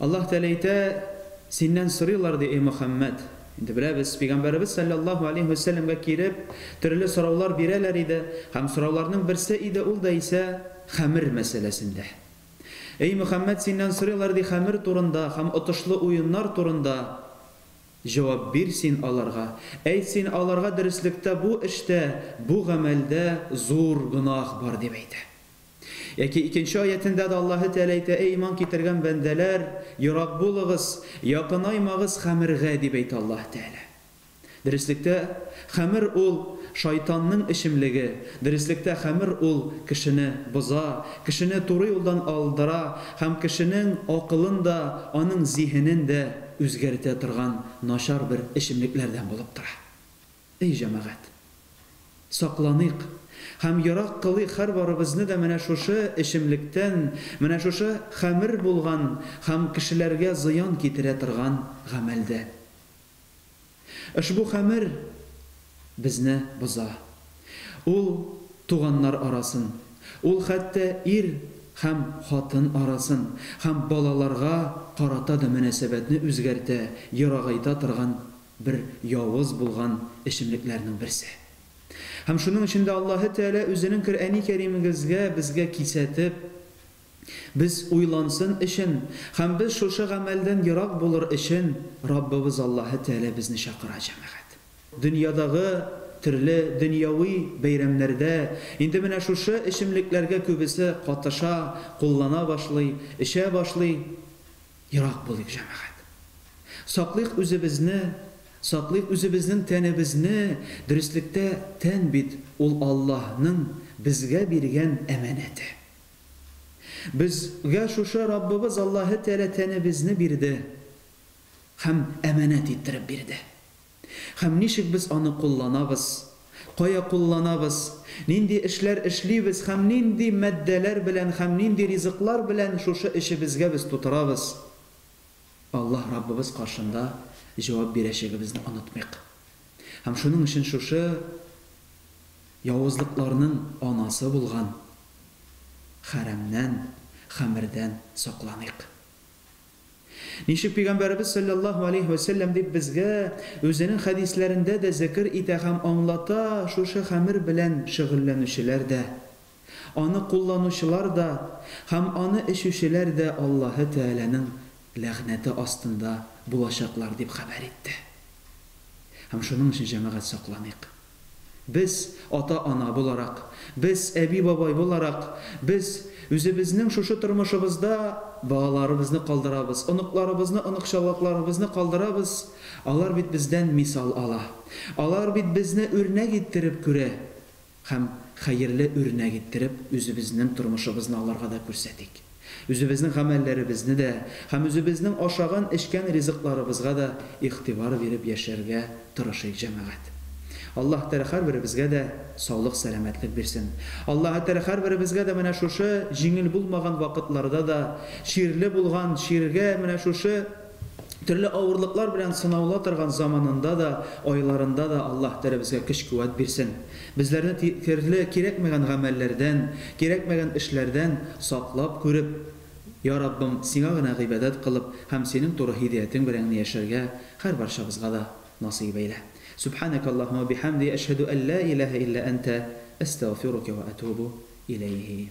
Аллаһ Тәгалә әйтә, Синнән сорыйлар, ди, эй Мөхәммәд. Инде беләбез, пәйгамбәребез салләллаһу алейһи вә сәлләмгә килеп, төрле сораулар бирәләр иде, һәм сорауларның берсе иде, ул да исә хәмер мәсьәләсендә. Эй Мөхәммәд, синнән сорыйлар, ди, хәмер турында һәм отышлы уеннар турында. Җавап бир син аларга. Әйт син аларга, Дөреслектә бу эштә, бу гамәлдә зур гөнаһ бар, дип әйтә. Яки икенче аятендә дә Аллаһы Тәгалә әйтә, Әй иман китергән бәндәләр, ерак булыгыз, якынаймагыз хәмергә, дип әйтә Аллаһы Тәгалә. Дөреслектә, хәмер ул, шайтанның эчемлеге, дөреслектә хәмер ул кешене боза, кешене туры юлдан алдыра һәм кешенең акылын да, аның зиһенен дә үзгәртә торган начар бер эчемлекләрдән булып тора. Эй җәмәгать! Сакланыйк һәм ерак кылыйк һәрбарыбызны да менә шушы эчемлектән, менә шушы хәмер булган һәм кешеләргә зыян китерә торган гамәлдән. Ошбу хәмер безне боза. Ул туганнар арасын, ул хәтта ир һәм хатын арасын һәм балаларга карата да мөнәсәбәтне үзгәртә, ерагайта торган бер явыз булган эчемлекләрнең берсе. Һәм шуның өчен дә Аллаһы Тәгалә Үзенең Коръәни Кәримегезгә безгә кисәтеп, без уйлансын өчен һәм без шушы гамәлдән ерак булыр өчен Раббыбыз Аллаһы Тәгалә безне чакыра, җәмәгать. Дөньядагы төрле дөньяви бәйрәмнәрдә инде менә шушы эчемлекләргә күбесе катыша, куллана башлый, эчә башлый. Ерак булыйк, җәмәгать! Саклыйк үзебезне, саклыйк үзебезнең тәнебезне, дөреслектә, тән бит ул Аллаһның безгә биргән әманәте. Безгә шушы Раббыбыз Аллаһы Тәгалә тәнебезне бирде һәм әманәт иттереп бирде. Һәм ничек без аны кулланабыз? Кая кулланабыз? Нинди эшләр эшлибез һәм нинди матдәләр белән һәм нинди ризыклар белән шушы эчебезгә без тутырабыз? Аллаһ Раббыбыз каршында җавап бирәчәгебезне онытмыйк. Һәм шуның өчен шушы явызлыкларның анасы булган хәрәмнән, хәмердән сакланыйк. Ничек Пәйгамбәребез салләллаһу алейһи вә сәлләм дип безгә Үзенең хәдисләрендә дә зекер итә һәм аңлата, шушы хәмер белән шөгыльләнүчеләр дә, аны кулланучылар да һәм аны эчүчеләр дә Аллаһы Тәгаләнең ләгънәте астында булачаклар дип хәбәр итте. Һәм шуның өчен, җәмәгать, сакланыйк. Без, ата-ана буларак, без, әби-бабай буларак, без үзебезнең шушы тормышыбызда балаларыбызны калдырабыз, оныкларыбызны, оныкчалакларыбызны калдырабыз, алар бит бездән мисал ала, алар бит безне үрнәк иттереп күрә һәм хәерле үрнәк иттереп үзебезнең тормышыбызны аларга да күрсәтик. Үзебезнең гамәлләребезне дә һәм үзебезнең ашаган-эчкән ризыкларыбызга да игътибар биреп яшәргә тырышыйк, җәмәгать. Аллаһ Тәгалә һәрберебезгә дә саулык-сәламәтлек бирсен. Аллаһ Тәгалә һәрберебезгә дә менә шушы җиңел булмаган вакытларда да чирле булган, чиргә менә шушы, Төрле авырлыклар белән сынаула торган заманында да, айларында да Аллаһ Тәгалә безгә көч-куәт бирсен. Безләрне терле кирәкмәгән гамәлләрдән, кирәкмәгән эшләрдән саклап күреп, Йа Раббым, Сиңа гына гыйбадәт кылып һәм Синең туры һидәятең белән генә яшәргә һәрбарчабызга да насыйп әйлә. Сүбханәкә Аллаһума ва бихәмди, әшһәдү әллә иләһә илля әнтә, әстәгъфирукә ва әтубу иләйһи.